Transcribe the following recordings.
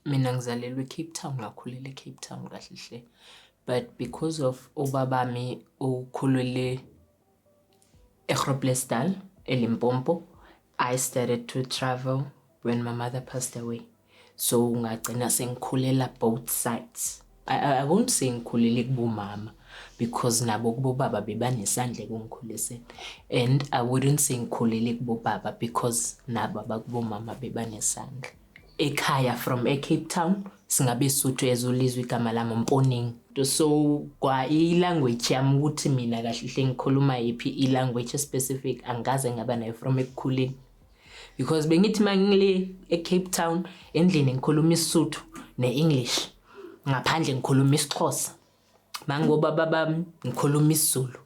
Mina ngizalelwe eCape Town, ngakhulela eCape Town kahle hle. But because of ubabami ukhulele eGroblersdal, eLimpopo, I started to travel when my mother passed away. So ngagcina sengikhulela both sides. I, I, I won't say ngikhulele kubomama because nabo kubobaba bebanesandla ekungikhuliseni and I wouldn't say ngikhulele kubobaba because nabo abakubomama bebanesandla. ekhaya from eCape Town singabesuthu as ulizwe igama lami umponingi so kwa i-language yami ukuthi mina kahle hle ngikhuluma yiphi i-language specific angikaze ngaba nayo from ekukhuleni because bengithi uma ngile ecape town endlini ngikhuluma isisuthu ne-english ngaphandle ngikhuluma isixhosa mangobaba bami ngikhuluma isizulu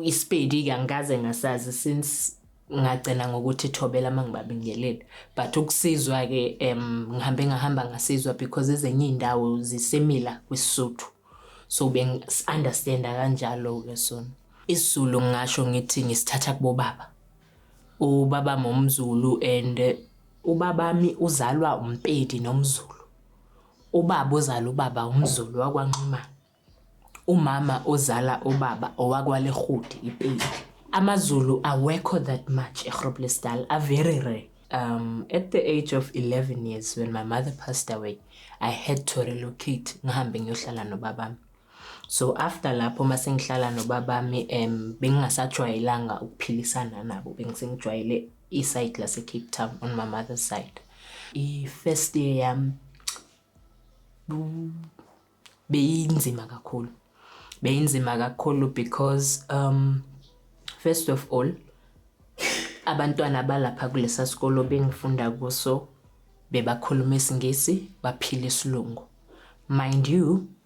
isipedi-ke angikaze ngasazi since ngagcina ngokuthi thobela uma ngibabingelele but ukusizwa-ke um ngihambe ngahamba ngasizwa because ezinye iy'ndawo zisemila kwisisuthu so bengi-understanda kanjalo-ke sona isizulu ngingasho ngithi ngisithatha kubobaba ubaba momzulu and ubabami uzalwa umpedi nomzulu Ubaba ozala ubaba umZulu wakwaNxumalo. Umama ozala ubaba owakwaLerhudi iPedi. AmaZulu awekho that much eGroblersdal, a very rare. Um, at the age of 11 years when my mother passed away, I had to relocate ngihambe ngiyohlala nobabami. So after lapho uma sengihlala nobabami um bengingasajwayelanga ukuphilisana nabo, bengisengijwayele isayidi lasecape town on my mother's side i-first year yami beyinzima kakhulu beyinzima kakhulu because um first of all abantwana abalapha kulesa sikolo bengifunda kuso bebakhuluma isingisi baphila isilungu mind you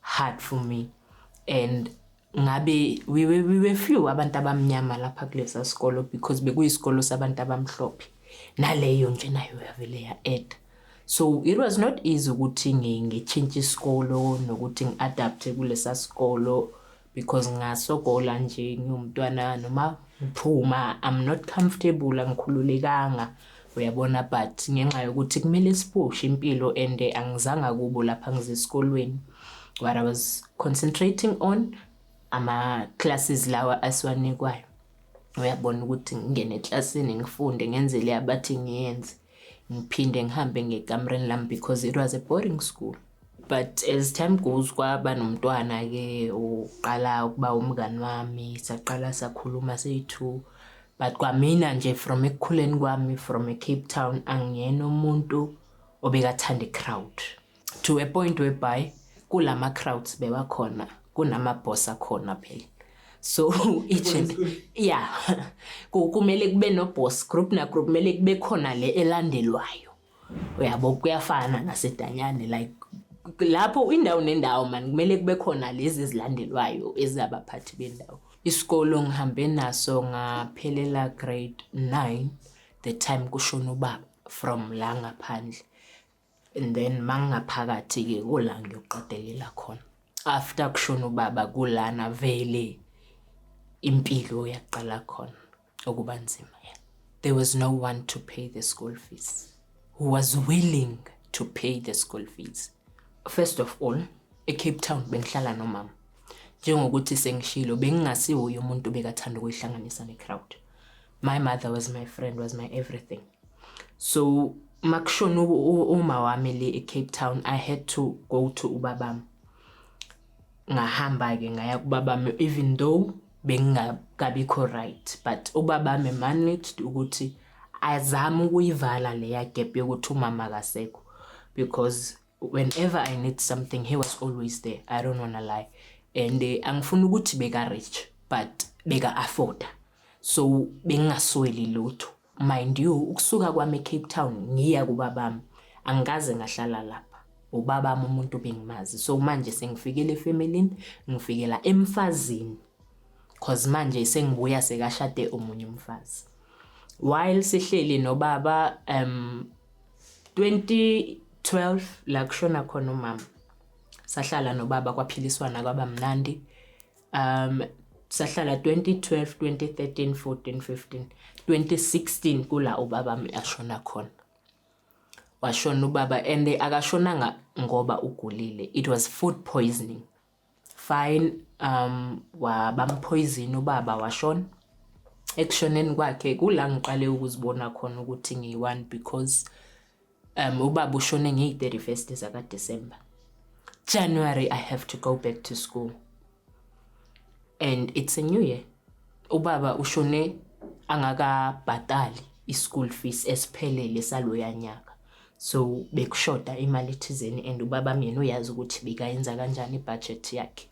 hard for me and ngabe we were, we were few abantu abamnyama lapha kulesa sikolo because bekuyisikolo sabantu abamhlophe naleyo nje nayo yavele ya-eda so it was not easy ukuthi ngitshintshe isikolo nokuthi ngi-adapte kulesa sikolo because ngasogola nje ngiwumntwana noma ngiphuma i'm not comfortable angikhululekanga uyabona but ngenxa yokuthi kumele sipushe impilo and angizanga kubo lapha ngizesikolweni what i was concentrating on ama-classes lawa asiwanikwayo uyabona ukuthi ngingene eklasini ngifunde ngenzele abathi ngiyenze ngiphinde ngihambe ngekamereni lami because it was a boarding school but as time goes kwaba nomntwana-ke uqala ukuba umngani wami saqala sakhuluma siyi-two but kwamina nje from ekukhuleni kwami from ecape town angiyena umuntu obekathanda i-crowd to a point whereby kulama crowds bebakhona kunama boss akhona phela so each and yeah kumele kube no boss group na group kumele kube khona le elandelwayo uyabo kuyafana nasedanyane like lapho indawo nendawo mani kumele kube khona lezi ezilandelwayo ezabaphathi bendawo isikolo ngihambe naso ngaphelela grade 9 the time kushona ubaba from la ngaphandle and then mangingaphakathi-ke kula ngiyoqedelela khona after kushona ubaba kulana vele impilo yaqala khona ukuba nzima yeah. there was no one to pay the school fees who was willing to pay the school fees first of all ecape town bengihlala nomama njengokuthi sengishilo bengingasiwuye umuntu bekathanda ukuyihlanganisa necrowd my mother was my friend was my everything so makushona uma wami le eCape Town I had to go to ubabami ngahamba ke ngaya kubabami even though bengingakabikho right but ubabami managed ukuthi azame ukuyivala leya gap yokuthi umama akasekho because whenever I need something he was always there I don't wanna lie and eh, angifuni ukuthi beka rich but beka afforda so bengingasweli lutho Mind you ukusuka kwami eCape Town ngiya kubabami angikaze ngahlala lapha. Ubabami umuntu bengimazi. So manje sengifikele efamilini, ngifikela emfazini. Cause manje sengibuya sekashade omunye umfazi. While sihleli nobaba um 20 12 la kushona khona umama sahlala nobaba kwaphiliswana kwaba mnandi um sahlala 2012 2013 14 15 2016 kula ubaba mi ashona khona washona ubaba and akashonanga ngoba ugulile it was food poisoning fine um wabampoison ubaba washona ekushoneni kwakhe kula ngiqale ukuzibona khona ukuthi ngiyi-one because Um, ubaba ushone ngeyi-31st zakaDecember. January I have to go back to school. And it's a new year. Ubaba ushone angakabhatali i-school fees esiphelele saloya nyaka. So bekushoda imali ethizeni and ubaba myena uyazi ukuthi bekayenza kanjani i-budget yakhe.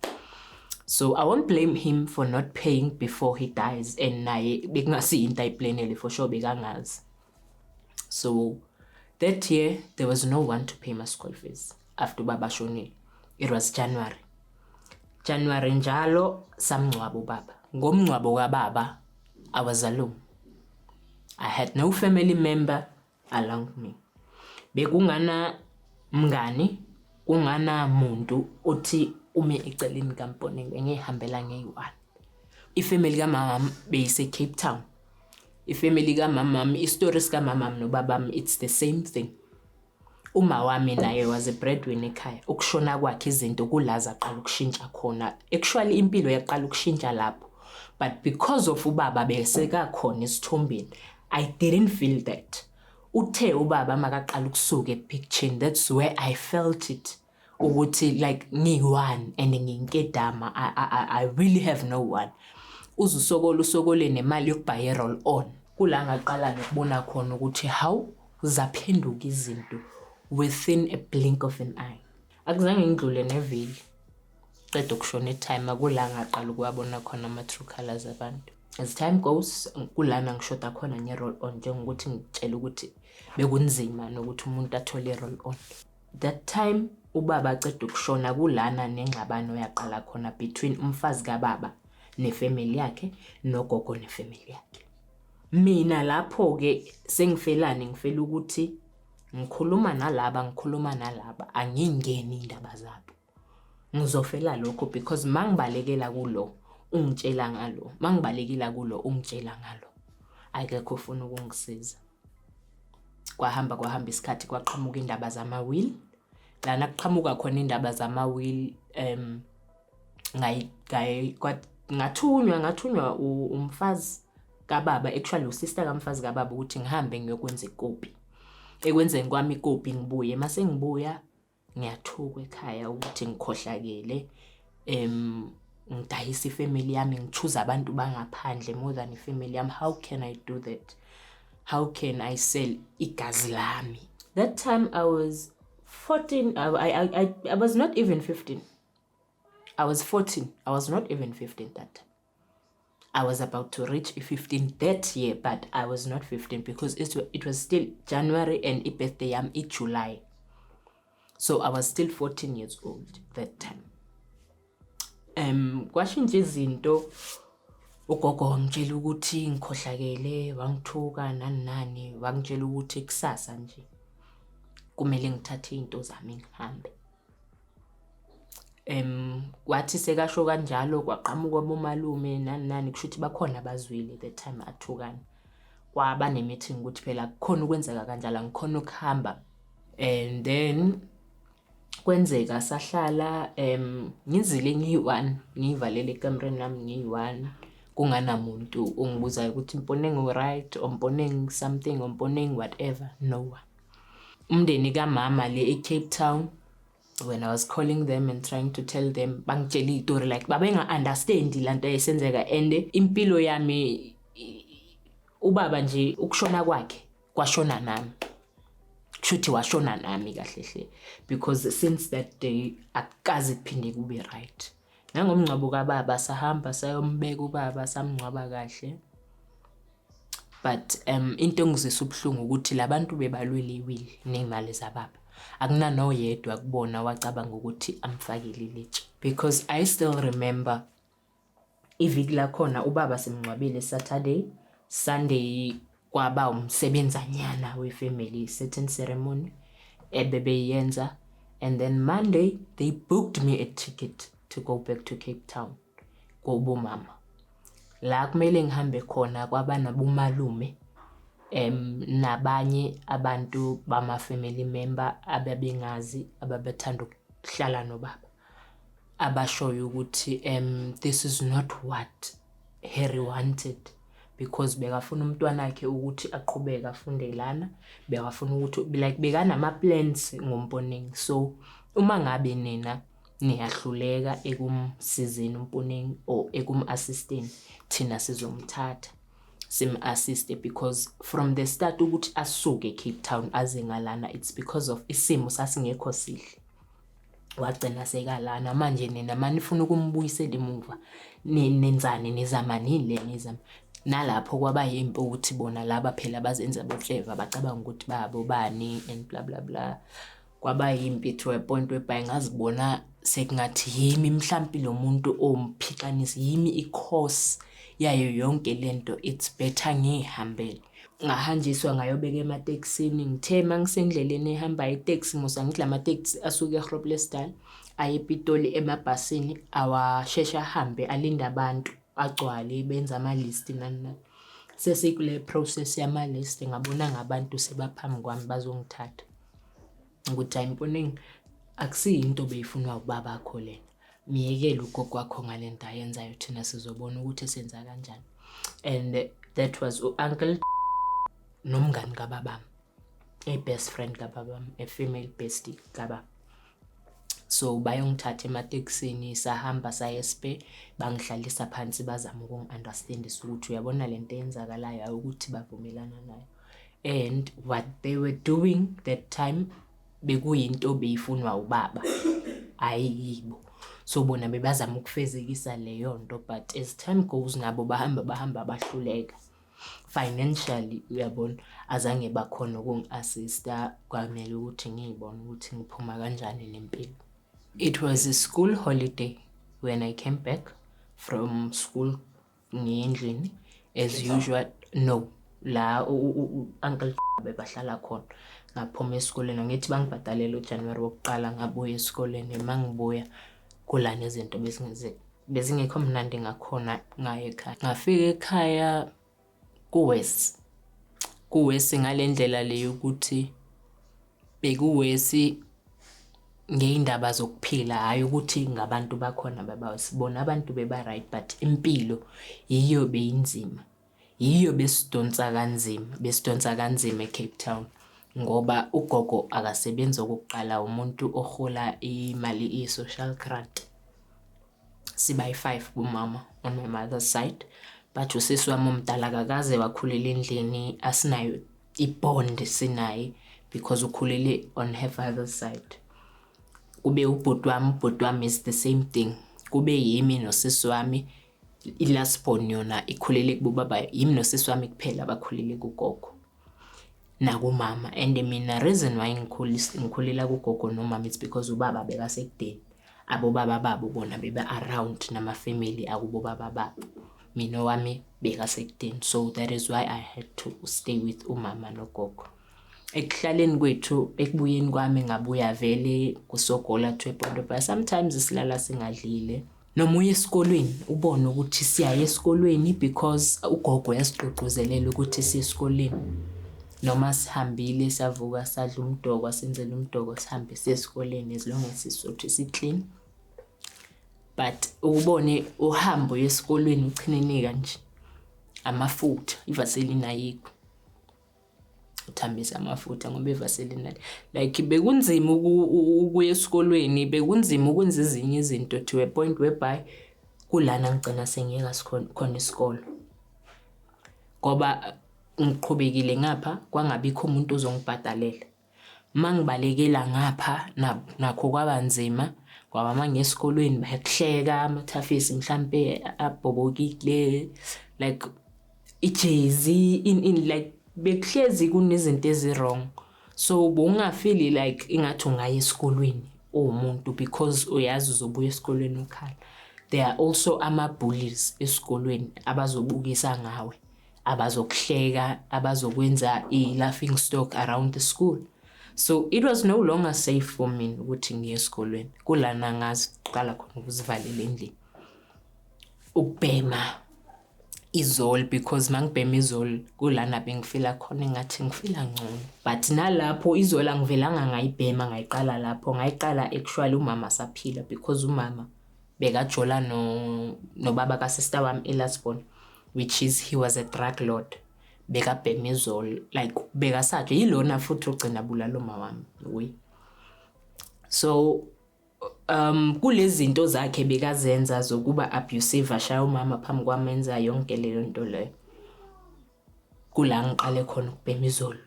So I won't blame him for not paying before he dies and naye bekungasiyinto ayiplanele for sure bekangazi. so that year there was no one to pay my school fees after ubaba ashonile it was january january njalo samngcwaba ubaba ngomngcwabo kababa i was alone i had no family member along me bekungana mngani kungana muntu othi ume eceleni kaMponeng engihambela ngeyi-one ifamily kamama beyisecape town Ifemeli kamama wami, isitori sikamama wami nobaba wami it's the same thing. Uma wami naye was a bread winner ekhaya, ukushona kwakhe izinto kula zaqala ukushintsha khona. Actually impilo yaqala ukushintsha lapho but because of ubaba besekakhona esithombeni, I didn't feel that. Uthe ubaba makaqala ukusuka ephikthini that's where I felt it. ukuthi like ngiyi-one and nginkedama I, I, I really have no one uze usokole usokole nemali yokubhaye i-roll on kula ngaqala nokubona khona ukuthi hawu zaphenduka izinto within a blink of an eye akuzange ngidlule neveli qeda ukushona itime kula ngaqala ukuwabona khona ama-true colors abantu as time goes kulana ngishoda khona nge-roll on njengokuthi ngitshela ukuthi bekunzima nokuthi umuntu athole i-roll on That time ubaba aceda ukushona kulana nengxabano yaqala khona between umfazi kababa nefamily yakhe nogogo nefamily yakhe mina lapho ke sengifelani ngifela ukuthi ngikhuluma nalaba ngikhuluma nalaba angingeni indaba zabo ngizofela lokho because mangibalekela kulo ungitshela ngalo mangibalekela kulo ungitshela ngalo akekho ufuna ukungisiza kwahamba kwahamba isikhathi kwaqhamuka indaba zama-will lana kuqhamuka khona indaba zama-will um ngathunywa ngathunywa umfazi kababa actually usister kamfazi kababa ukuthi ngihambe ngiyokwenza ikopi ekwenzeni kwami ikopi ngibuye mase ngibuya ngiyathukwa ekhaya ukuthi ngikhohlakele um ngidayisa ifamily yami ngithuza abantu bangaphandle more than ifamily yami how can i do that how can i sell igazi lami that time i was 14 I, I, I, I was not even 15 i was 14 i was not even 15 that time I was about to reach 15 that year but I was not 15 because it, it was still January and i birthday yam i July so I was still 14 years old that time um kwashintsha izinto ugogo wangitshela ukuthi ngikhohlakele wangithuka nani nani wangitshela ukuthi kusasa nje kumele ngithathe izinto zami ngihambe Wathi sekasho kanjalo kwaqhamuka abomalume nani nani, kusho ukuthi bakhona abazwile that time athukana. Kwaba ne-meeting ukuthi phela kukhona ukwenzeka kanjalo angikhoni ukuhamba and then kwenzeka sahlala ngizile ngiyi-one, ngiyivalele ekamereni lami ngiyi-one kunganamuntu ongibuzayo ukuthi Mponeng, u-right or Mponeng something or Mponeng whatever, no one. Umndeni kamama le eCape Town when I was calling them and trying to tell them bangitshela izitori like babenga understand lanto eyisenzeka and impilo yami ubaba nje ukushona kwakhe kwashona nami kushuthi washona nami kahle hle because since that day akukaze kuphinde kube right Nangomngcwabo kababa sahamba sayombeka ubaba samngcwaba kahle but um into engizwisa ubuhlungu ukuthi labantu bebalwela iwili nezimali zababa akunanoyedwa kubona wacabanga ukuthi amfakele ilitshe because i still remember iviki lakhona ubaba simngcwabile saturday sunday Kwaba umsebenzanyana we-family certain ceremony ebebeyenza and then Monday they booked me a ticket to go back to Cape Town kobomama la kumele ngihambe khona kwaba nabomalume em nabanye abantu bama family member ababengazi ababethanda ukuhlala nobaba abashoyo ukuthi um this is not what Harry wanted because bekafuna umntwana wakhe ukuthi aqhubeke afunde lana bekafuna ukuthi like bekanama plans ngomponingi so uma ngabe nina niyahluleka ekumsizeni umponingi or ekum assisteni thina sizomthatha sim assist because from the start ukuthi asuke Cape Town aze ngalana it's because of isimo sasingekho sihle wagcina sekala namanje nina manifuna ukumbuyisela emuva nenzani nizama nini le nizama nalapho kwaba yimpi ukuthi bona laba phela bazenza bocleva bacabanga ukuthi babo bani and bla bla bla kwaba yimpi to a point whereby ngazibona sekungathi yimi mhlampi lo muntu omphixanisi yimi i-course yayo yonke lento it's better ngiyihambele ngahanjiswa ngayobeka ematekisini ngithe uma ngisendleleni ehambayo iteksi musa ngithi la mateksi asuke egroblersdal aye epitoli emabhasini awasheshe ahambe alinde abantu agcwale benza amalisti nani nani sesikule process yamalisti ngabona ngabantu sebaphambi kwami bazongithatha ukuthi ayimponingi akusiyinto beyifunwa ubaba akho lena myekele ugogo wakho ngale nto ayenzayo thina sizobona ukuthi senza kanjani and that was u-uncle nomngani kababami i-best friend kababami a-female besty kababa so bayongithatha ematekisini sahamba saye spe bangihlalisa phansi bazama ukungi-understandisa ukuthi uyabona le nto eyenzakalayo awukuthi bavumelana nayo and what they were doing that time bekuyinto beyifunwa ubaba hhayi yibo so bona bebazama ukufezekisa leyo nto but as time goes nabo bahamba bahamba bahluleka financially uyabona azange bakhona ukungi-assista kwamele ukuthi ngiyibone ukuthi ngiphuma kanjani nempilo it was a school holiday when i came back from school ngendlini as usual no la u-uncle bebahlala khona ngaphuma esikoleni ngithi bangibhadalele ujanuwari wokuqala ngabuya esikoleni uma ngibuya kulana izinto bezingekho mnandi ngakhona ngayo ekhaya ngafika ekhaya kuwesi kuwesi ngale ndlela le yokuthi Bekuwesi ngey'ndaba zokuphila hhayi ukuthi ngabantu bakhona babawesi bona abantu beba-right but impilo yiyo beyinzima. Yiyo besidonsa kanzima, besidonsa kanzima e-Cape Town ngoba ugogo akasebenzi okokuqala umuntu orhola imali i-social grant. Siba yi-five kumama on my mother's side but usisi wami omdala akakaze wakhulela endlini asinayo ibond sinaye because ukhulele on her father's side kube ubhuti wami ubhuti wami is the same thing kube yimi nosisi wami i-last born yona ikhulele kubobaba yimi nosisi wami kuphela abakhulele kugogo nakumama and mina reason why ngikhulela kugogo nomama it's because ubaba bekasekudeni abobaba babo bona bebe-around namafamily akubobaba babo mina owami bekasekudeni so that is why i had to stay with umama nogogo ekuhlaleni kwethu ekubuyeni kwami ngabuya vele kusogola to epondo but sometimes silala singadlile noma uye esikolweni ubone ukuthi siyaye esikolweni because ugogo yasigqugquzelela ukuthi siye esikoleni noma sihambile savuka sadla umdoko senzela umdoko sihambe siye esikoleni as long as sisuthi si-clean but ukubone uhambo yesikolweni uchinenika nje amafutha ivaseline ayikho uthambise amafutha ngoba ivaseline like bekunzima ukuya esikolweni bekunzima ukwenza ezinye izinto to a point whereby kulana ngigcina sengiyeka khona isikolo ngoba ngiqhubekile ngapha kwangabikho umuntu ozongibhadalela Mangibalekela ngapha nakho kwaba nzima ngoba mangingena esikolweni bayakuhleka amathafisi mhlampe abhobokile like ijezi in in like bekuhlezi kunezinto ezi-wrong. So bowungafili like ingathi ungaya esikolweni uwumuntu because uyazi uzobuya esikolweni ukhala. There are also ama-bullies esikolweni abazobukisa ngawe. abazokuhleka abazokwenza i-laughing stock around the school so it was no longer safe for me ukuthi ngiye esikolweni kulana ngaziqala khona ukuzivalela endlini ukubhema izol because mangibhema izol kulana bengifila khona engathi ngifila ngcono but nalapho izol angivelanga ngayibhema ngayiqala lapho ngayiqala actually umama saphila because umama bekajola no nobaba ka sister wami eLasbon which is he was a drug lord bekabhema izolo like bekasaje yilona futhi ogcina bulala uma wami we so um kulezi zinto zakhe bekazenza zokuba abusive ashaya umama phambi kwami enza yonke leyo nto leyo kula ngiqale khona ukubhema izolo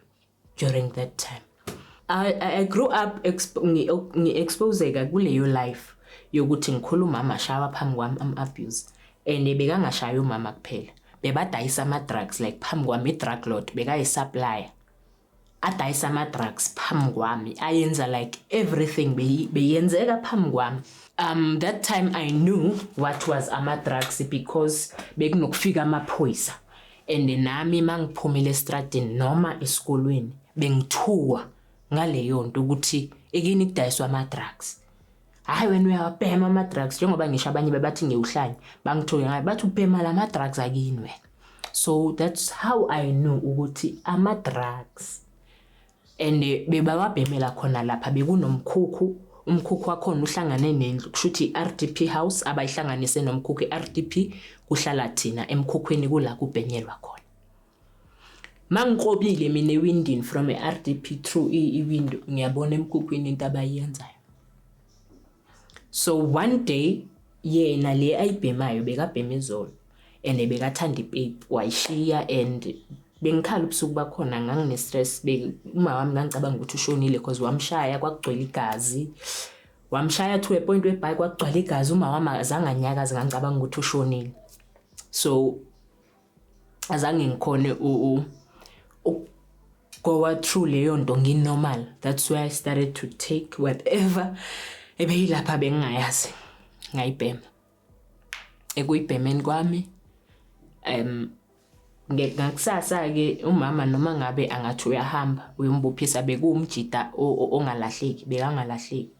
during that time I, I grew up ngi-exposeka kuleyo life yokuthi ngikhula umama ashawa phambi kwami am-abuse and bekangashayi umama kuphela bebadayisa ama-drugs like phambi kwami i-drug lord bekayisupplier adayisa ama-drugs phambi kwami ayenza like everything beyenzeka phambi kwami um that time i knew what was ama-drugs because bekunokufika amaphoyisa and nami mangiphumile estradini noma esikolweni bengithuwa ngaleyo nto ukuthi ekini kudayiswa ama-drugs hhayi wena uyawabhema ama-drugs njengoba ngisho abanye bebathi ngewuhlanye bangithuke ngayo bathi ubhema la ma-drugs akini wena so that's how i know ukuthi ama-drugs and bebawabhemela khona lapha bekunomkhukhu umkhukhu wakhona uhlangane nendlu kusho ukuthi i-rdp house abayihlanganise nomkhukhu i-rdp kuhlala thina emkhukhwini kula kubhenyelwa khona mangikrobile mina ewindini from i-rdp through iwindow ngiyabona emkhukhwini into abayenzayo So one day yena le ayibhemayo bekabhema izolo and bekathanda ipape wayishiya and bengikhala ubusuku bakhona ngangine-stress uma wami ngangicabanga ukuthi ushonile because wamshaya kwakugcwele igazi wamshaya to a point webhayi kwakugcwele igazi uma wami azange anyakazi ngangicabanga ukuthi ushonile so azange ngikhone u gowa through leyo nto nginormal that's where i started to take whatever ebeyilapha bengingayazi ngayibhema ekuyibhemeni kwami um ngakusasa-ke umama noma ngabe angathi uyahamba uyombophisa bekuwumjida ongalahleki bekangalahleki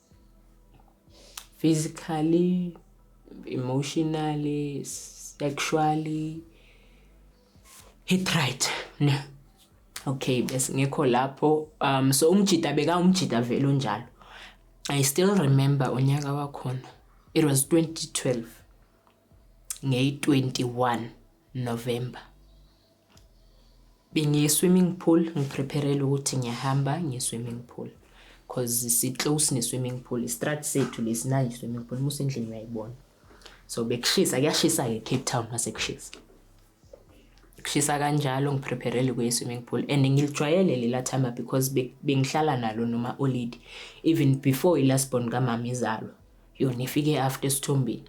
physically, emotionally, sexually hit right ne okay bese ngekho lapho um so umjita beka umjita vele onjalo i still remember unyaka wakhona it was 2012 ngey 21 November bengiye swimming pool ngiprepherele ukuthi ngiyahamba ngiye swimming pool cause si-close ne-swimming pool istrat sethu lesi nayi swimming pool musa endlini uyayibona so bekushisa kuyashisa-ke cape town masekushisa kushisa kanjalo ngiprepherele kuye swimming pool and ngilijwayele lela thamba because bengihlala nalo noma olidi even before i-last born kamama izalwa yona ifike after esithombeni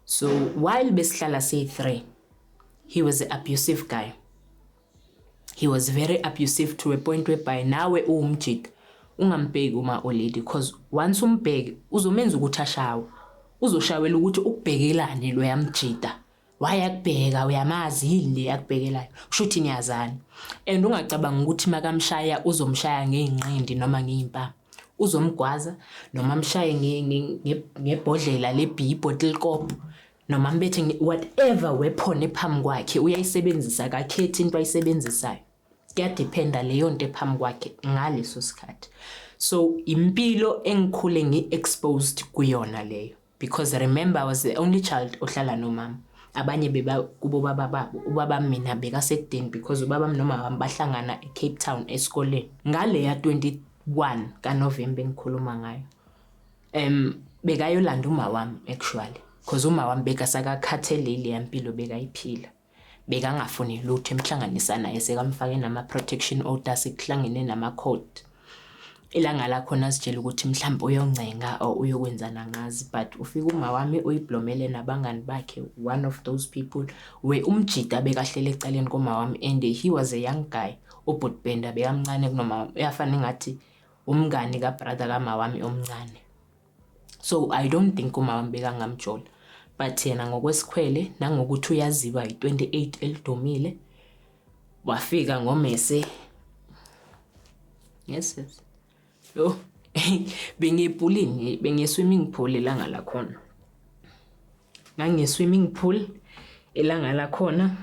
so while besihlala siyi-three he was a abusive guy he was very abusive to a point whereby nawe uwumjita ungambheki uma olady because once umbheki uzomenza ukuthi ashawe uzoshawela ukuthi ukubhekelani lo yamjita wayakubheka uyamazi yini le yakubhekelayo kushuthi niyazana and ungacabanga ukuthi makamshaya uzomshaya ngeinqindi noma ngeimpama uzomgwaza noma amshaye ngebhodlela lebhi ibottle kop noma mbethe nge- whatever weapon ephambi kwakhe uyayisebenzisa akakhethi into ayisebenzisayo kuyadiphenda leyo nto ephambi kwakhe ngaleso sikhathi so impilo engikhule ngi-exposed kuyona leyo because remember i was the only child ohlala nomama abanye beba kubo baba babo ubaba mina bekasekudeni because ubaba wami nomama wami bahlangana ecape town esikoleni ngaleya 21 kanovemba engikhuluma ngayo Em bekayolanda uma wami actually because uma wami bekasakakhatheleli yempilo bekayiphila. Bekangafuni lutho emhlanganisa naye sekamfake nama protection orders sekuhlangene nama court. Ilanga lakhona sitshela ukuthi mhlawumbe uyoncenga or uyokwenzana ngazi but ufika uma wami uyiblomele nabangani bakhe one of those people we umjita bekahlele eceleni koma wami and he was a young guy ubhutbenda bekamncane kunoma uyafana ngathi umngani ka brother ka mawami omncane so i don't think umawami bekangamjola but yena ngokwesikhwele nangokuthi uyaziwa yi-28 elidumile wafika ngomese yes yes yo bengiyibhulini bengiye-swimming pool elanga lakhona ngangiye-swimming pool elanga lakhona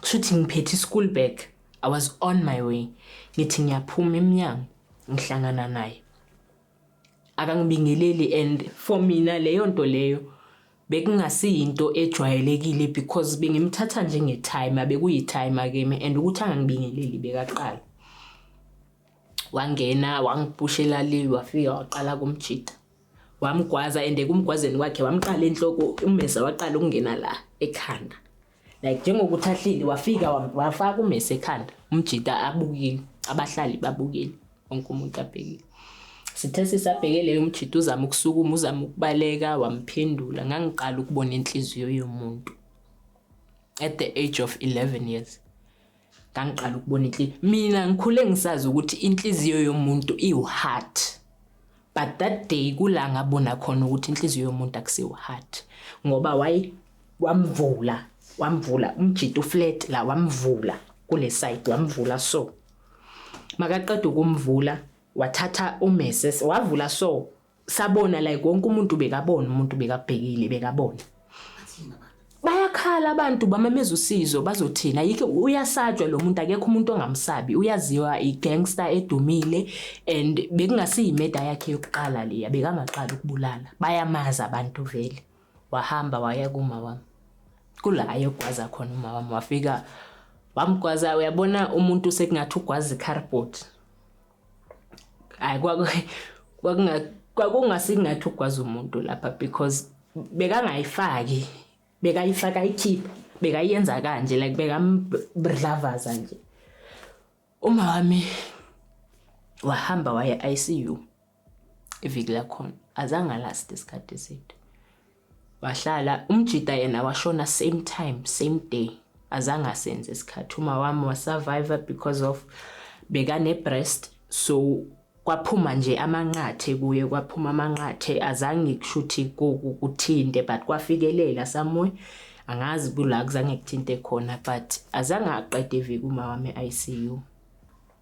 kushuthi ngiphethe ischool bag i was on my way ngithi ngiyaphuma emnyango ngihlangana naye akangibingeleli and for mina leyo nto leyo bekungasiyinto ejwayelekile because bengimthatha njengetimer bekuyitimer kimi and ukuthi angangibingeleli bekaqala wangena wangiphushela le wafika waqala kumjita wamgwaza and kumgwazeni kwakhe wamqala enhloko umeza waqala ukungena la ekhanda like njengokuthi ahleli wafika wafaka umese ekhanda umjita abukile abahlali babukile wonke umuntu abhekile sithe sisabheke leyo mjita uzama ukusukuma uzama ukubaleka wamphendula ngangiqala ukubona inhliziyo yomuntu at the age of 11 years ngangiqala ukubona inhliziyo mina ngikhule ngisazi ukuthi inhliziyo yomuntu iwu-heart but that day kula ngabona khona ukuthi inhliziyo yomuntu akusiwu-heart ngoba wayi wamvula wamvula umjita uflat la wamvula kule side wamvula so makaqeda ukumvula wathatha umese wavula so sabona like wonke umuntu bekabona umuntu bekabhekile bekabona bayakhala abantu bamameza usizo bazothina yike uyasatshwa lo muntu akekho umuntu ongamsabi uyaziwa i-gangster edumile and bekungasiyimeda yakhe yokuqala leya bekangaqala ukubulala bayamazi abantu vele wahamba waya kuma wami kula ayogwaza khona uma wami wafika wamgwaza uyabona umuntu sekungathi ugwaza i-cardboard hayi kwakungasingathi ukwazi umuntu lapha because bekangayifaki bekayifaka ayikhiphe bekayenza kanje like bekamdlavaza nje uma wami wahamba waya ICU iviki lakhona azange last isikhathi eside Wahlala umjita yena washona same time same day azange asenze isikhathi uma wami wasurvive because of bekane breast so kwaphuma nje amanqathe kuye kwaphuma amanqathe azange kushuthi kuthinte but kwafikelela somewhere angazi kula kuzange kuthinte khona but azange aqede iviki uma wami ICU